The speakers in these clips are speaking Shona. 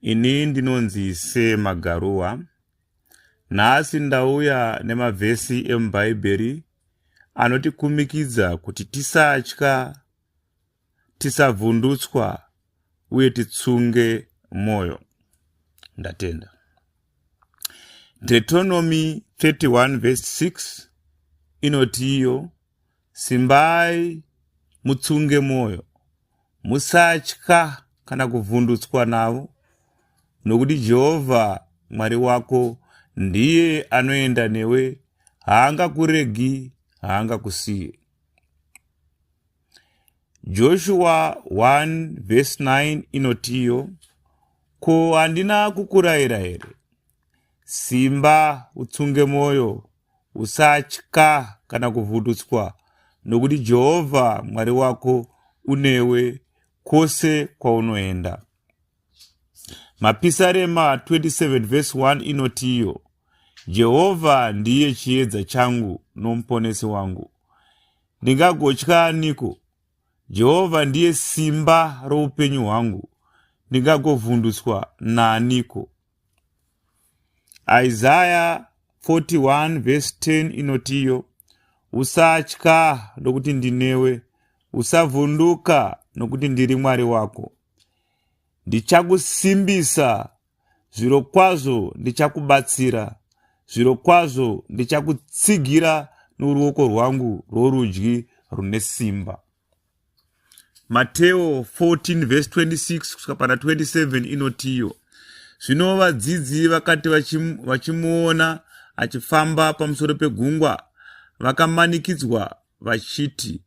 Ini ndinonzi Se Magaruwa. Nhasi ndauya nemavhesi emuBhaibheri anotikumikidza kuti tisatya, tisavhundutswa uye titsunge mwoyo. Ndatenda. Deuteronomy 31 verse 6 inoti iyo Simbai mutsunge mwoyo, musatya kana kuvhundutswa navo, nokuti Jehovha Mwari wako ndiye anoenda newe, haangakuregi, haangakusiye. Joshua 1 vhesi 9 inotiyo, Ko handina kukurayira here? Simba utsunge mwoyo, Usatya kana kuvhundutswa, nokuti Jehovha Mwari wako unewe kwose kwaunoenda. Mapisarema 27 vhesi 1 inoti iyo, Jehovha ndiye chiedza changu nomuponesi wangu. Ndingagotya aniko? Jehovha ndiye simba roupenyu hwangu. Ndingagovhundutswa naaniko? Isaya 41 vhesi 10 inotiyo, Usatya nokuti ndinewe, usavhunduka nokuti ndiri Mwari wako. Ndichakusimbisa, zvirokwazvo ndichakubatsira, zvirokwazvo ndichakutsigira noruoko rwangu rworudyi rune simba. mateo 14 vhesi 26 kusvika pana 27 inotiyo zvino vadzidzi vakati vachimuona achifamba pamusoro pegungwa vakamanikidzwa vachiti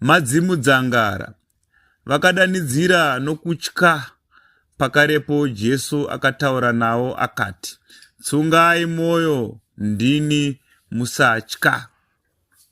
madzimu dzangara vakadanidzira nokutya pakarepo jesu akataura navo akati tsungai mwoyo ndini musatya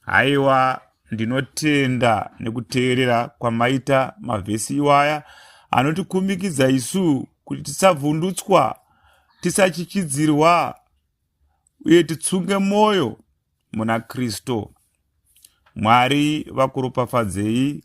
haiwa ndinotenda nekuteerera kwamaita mavhesi iwaya anotikumikidza isu kuti tisavhundutswa tisachichidzirwa uye titsunge mwoyo muna kristu mwari vakuropafadzei